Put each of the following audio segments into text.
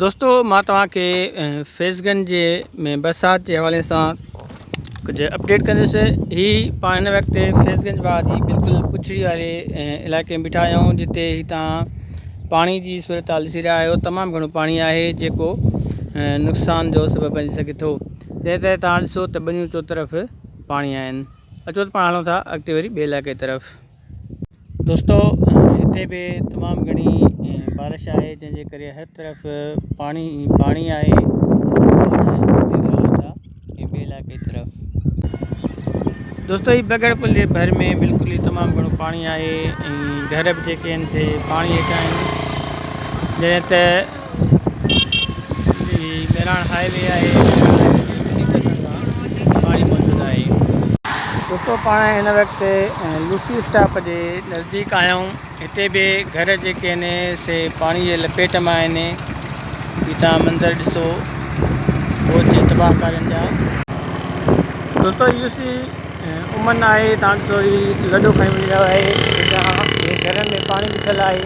دوستو مان توهان کي فيض گنج جي ۾ برسات جي حوالي سان ڪجهه اپڊيٽ ڪندس هي پاڻ هن وقت فيض گنج واهه جي بلڪل پڇڙي واري علائقي ۾ بيٺا آهيون جتي هتان پاڻي جي صورتحال ڏسي رهيا آهيو تمام گهڻو پاڻي آهي جيڪو نقصان جو سبب بنجي سگهي ٿو جنهن ڪري توهان ڏسو ته ٻنيون چوطرف پاڻي آهن اچو ته پاڻ هلون ٿا اڳتي وري ٻئي علائقي طرف دوستو هتي به تمام گهڻي بارش آهي جنهن جي ڪري هر طرف پاڻي ئي پاڻي آهي دوستو هي بگڙ پل جي ڀر ۾ بلڪل ئي تمام گهڻو پاڻي آهي ۽ گهر به جيڪي آهن سي پاڻي هيٺان آهن جڏهن ته مهراڻ هاء وي آهي مهراڻ هاء وي تي ٻنهي پاسن کان پاڻي موجود آهي. دوستو پاڻ هن وقت لوسي اسٽاپ جي نزديڪ آهيون هتي به گهر جيڪي آهن سي پاڻي جي لپيٽ ۾ آهن هي توهان منظر ڏسو فوج جي تباهه ڪارين جا. دوستو هي لوسي امن آهي توهان ڏسو هي لڏو کڻي وڃي رهيو آهي جتان هي گهرن ۾ پاڻي بيٺل آهي.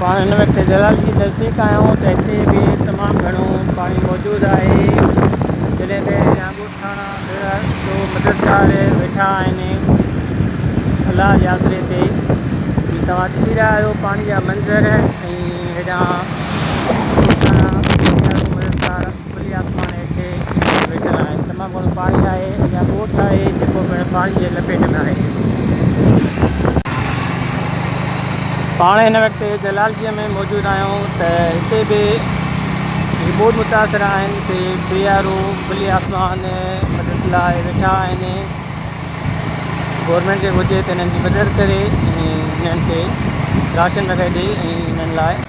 پاڻ هن وقت جلال جي نزديڪ آهيون ته هتي به تمام گهڻو پاڻي موجود آهي جڏهن ته ياقوت ٿاڻا ڀيڙا جو مددگار ويٺا آهن الله جي آسري تي جي توهان ڏسي رهيا آهيو پاڻي جا منظر ۽ هيڏانهن ٿاڻا ڀيڙا جو مددگار کلي آسمان هيٺ ۽ ويٺل آهن. تمام گهڻو پاڻي آهي. اڃا ڳوٺ آهي جيڪو پڻ پاڻي جي لپيٽ ۾ آهي. پاڻ هن وقت جلالجيء ۾ موجود آهيون ته هتي به جيڪي ٻوڏ متاثر آهن سي بي آر او کلي آسمان مدد لاء ويٺا آهن. گورنمينٽ کي گهرجي ته هنن جي مدد ڪري ۽ هنن کي راشن وغيره ڏئي ۽ هنن لاء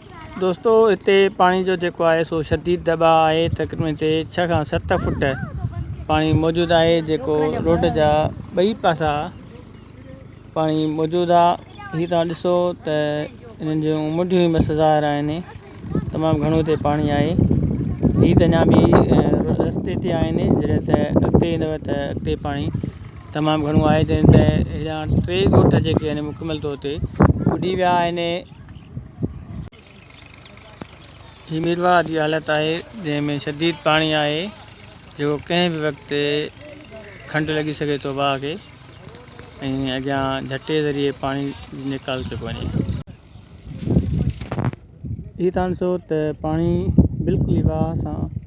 دوستو هتي پاڻي جو جيڪو آهي سو شديد دٻاء آهي تقريبن هتي ڇهه کان ست فوٽ پاڻي موجود آهي جيڪو روڊ جا ٻئي پاسا پاڻي موجود آ هي توهان ڏسو ته هنن جون منڊيون بس ظاهر آهن تمام گهڻو هتي پاڻي آهي هي ته اڃا به رستي تي آهن جڏهن ته اڳتي ايندو ته اڳتي پاڻي تمام گهڻو آهي جڏهن ته هيڏانهن ٽي ڳوٺ جيڪي آهن مڪمل طور تي ٻڏي ويا آهن هي ميرواهه جي حالت آهي جنهن ۾ شديد پاڻي آهي جيڪو ڪنهن به وقت کنڊ لڳي سگهي ٿو واهه کي ۽ اڳيان جهٽي ذريعي پاڻي نيڪال ٿي پوندي. هي تان ڏسو ته پاڻي بلڪل ئي واهه سان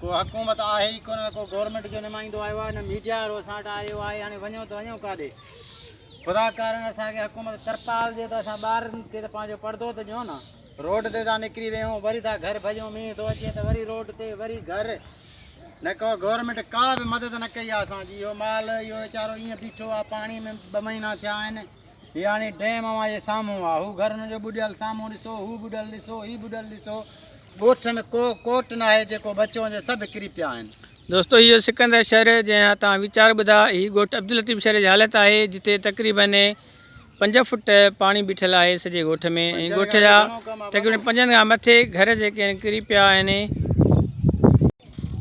ڪو حڪومت آهي ئي ڪونه ڪو گورنمينٽ جو نمائندو آيو آهي نه ميڊيا وارو اسان وٽ آيو آهي هاڻي وڃو ته وڃو ڪاڏي خدا ڪارڻ اسان کي حڪومت ترپال ڏي ته اسان ٻارن کي ته پنهنجو پردو ته ڏيو نه روڊ تي تان نڪري ويهون وري تان گهر ڀڄون مينهن ٿو اچي ته وري روڊ تي وري گهر نه ڪو گورنمينٽ ڪا به مدد نه ڪئي آهي اسان جي اهو مال اهو ويچارو ائين بيٺو آهي پاڻي ۾ ٻه مهينا ٿيا آهن هي هاڻي ڊيم اوهان جي سامهون آ. هو گهرن جو ٻڏيل سامهون ڏسو، هو ٻڏل ڏسو، هي ٻڏل ڏسو. ڳوٺ ۾ ڪو ڪوٽ ناهي جيڪو بچو هجي، سڀ ڪري پيا آهن. دوستو هي جو سڪندر شهر جنهن جا توهان ويچار ٻڌا، هي ڳوٺ عبداللطيف شهر جي حالت آهي جتي تقريباً پنج فوٽ پاڻي بيٺل آهي سڄي ڳوٺ ۾ ۽ ڳوٺ جا تقريباً پنجن کان مٿي گهر جيڪي آهن ڪري پيا آهن.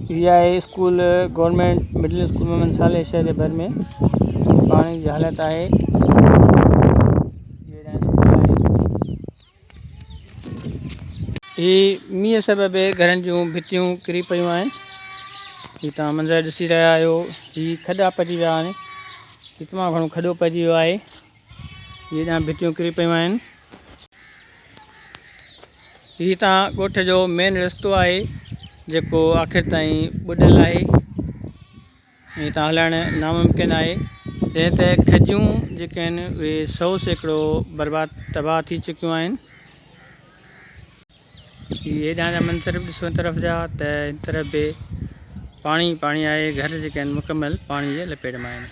پي آء school government middle school Muhammad Saleh شهر جي ڀر ۾ پاڻي جي حالت آهي هي مينهن سبب گهرن جون ڀتيون ڪري پيون آهن هي تان منظر ڏسي رهيا آهيو هي کڏا پٽي ويا آهن هي تمام گهڻو کڏو پئجي ويو آهي هي ڏانهن ڀتيون ڪري پيون آهن. هي هتان ڳوٺ جو مين رستو آهي جيڪو آخر تائين ٻڏل آهي ۽ هتان هلائڻ ناممڪن آهي. جڏهن ته کجيون جيڪي آهن اهي سئو سيڪڙو برباد تباهه ٿي چڪيون آهن. هي هيڏانهن جا منظر به ڏسو هن طرف جا ته هن طرف به پاڻي ئي پاڻي آهي گهر جيڪي آهن مڪمل پاڻي جي لپيٽ ۾ آهن.